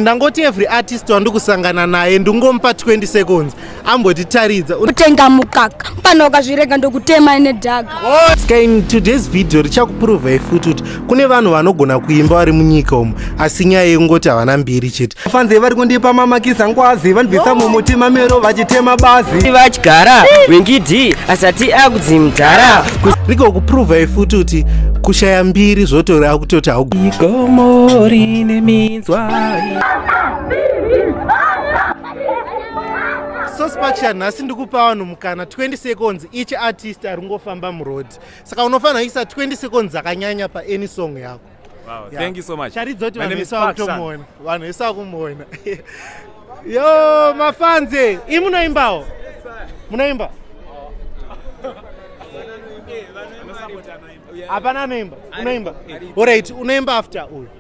ndangoti every artist wandikusangana naye ndingomupa 20 seconds ambotitaridza utenga mukaka pano ukazvirega ndokutema ine dhaga oh, ska in today's video richakupruvai futi kuti kune vanhu vanogona kuimba vari munyika umu asi nyaya yekungoti havana mbiri chete fanze vari kundipa mamakisa ngwazi vandibvisa mumuti mamero vachitema bazi vadyara wingidi asati akudzi mdhara riko kupruvai futi kuti kushaya mbiri zvotori akutoti haugomo rine mina sospacha nhasi ndikupa vanhu mukana 20 seconds each artist ari kungofamba muroad saka unofanira kuisa 20 seconds akanyanya paany song yako charidzoti vanhu vese vakutomuona vanhu vese vakumuona yo mafanze i munoimbawo munoimba hapana anoimba unoimba orit unoimba after uyu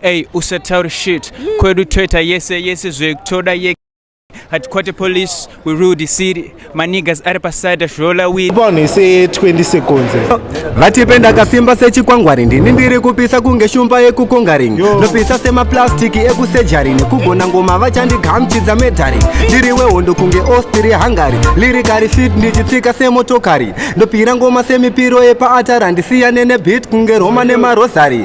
Hey, usataure shit kwedu toita yese yese zvekutoda ye hatikwate police we rule the city manigas ari paside zvola win vanhu ise 20 seconds vatipe ndakasimba sechikwangwari ndini ndiri kupisa kunge shumba yekukongaring ndopisa semaplastiki ekusejari nekugona ngoma vachandigamchidza medhari ndiri wehondo kunge ostiri hungary lirikari fit ndichitsika semotokari ndopira ngoma semipiro yepaatara ndisiyane nebit kunge roma nemarosary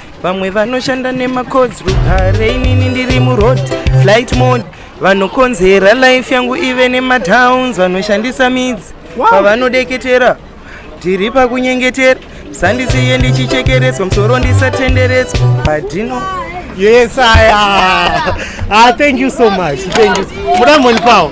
vamwe vanoshanda nemacods rugare inini ndiri muroad flight mode vanokonzera life yangu ive nematowns vanoshandisa midzi pavanodeketera tiri pakunyengetera sandisiye ndichichekeretswa musoro ndisatenderetswa padino yes aya ah, thank you so much thank you muda monipawo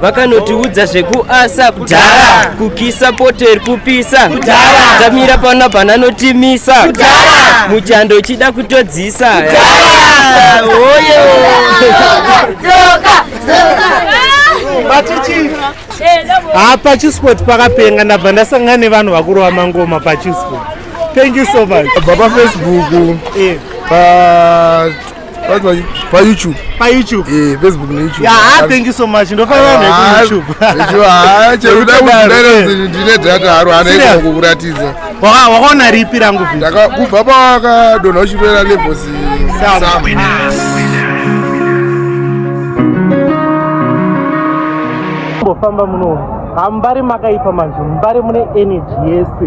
vakanotiudza zvekuasa kudhara kukisa poter kupisa kudhara tamira pano bana notimisa kudhara muchando uchida kutodzisa oye ha pachisport pakapenga ndabva ndasangana nevanhu vakurova mangoma pachisport thank you so much baba facebook eh. pa payoutube payoutube eh facebook ne youtube yeah ah, thank you so much ndofanira ne ah, youtube ndicho ha ah, chero ndakudana ndine data haro hana kukuratidza waka wakaona ripi rangu video ndakubva pawaka dona uchipera levels sama mbofamba muno hambari makaipa manje mbari mune energy yese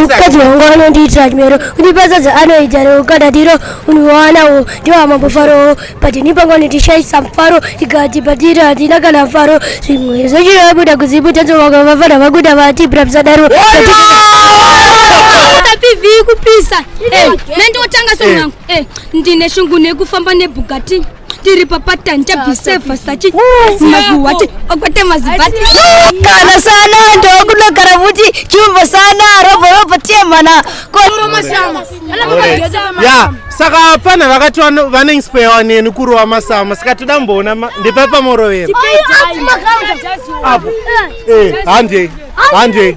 mukadzi wangu anondiitira chimero kundipazadza anoita reukadadiro univawanawo ndiwamambofaro but nipangu anondishaisa mufaro tikati patiri hatina kana mfaro zvimwe zvechiabuda kuziputanzovaka vafana vakuda vati brapsadaro kupisa eh, nendotanga sonangu eh, ndine shungu nekufamba nebugati tiri papatani tabhisevha sachi maguwati okwate mazibati kana sana ndokunogara futi chimbo sana roborobo tiemana ya saka hapana vakati vanengispewa neni kurova masama saka toda mboona ndepapa morovero apo eh, eh, handei handei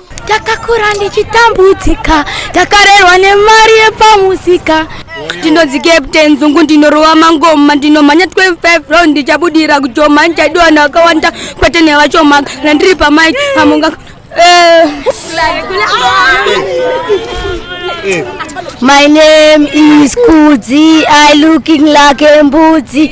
ndakakura ndichitambudzika ndakarerwa nemari yepamusika ndinonzi captain zungu ndinorova mangoma ndinomhanya 25 round ndichabudira kujoma ndichadiwa navakawanda kwete nevachoma kana ndiri pamai amunga eh. My name is Kudzi. I looking like a mbudzi.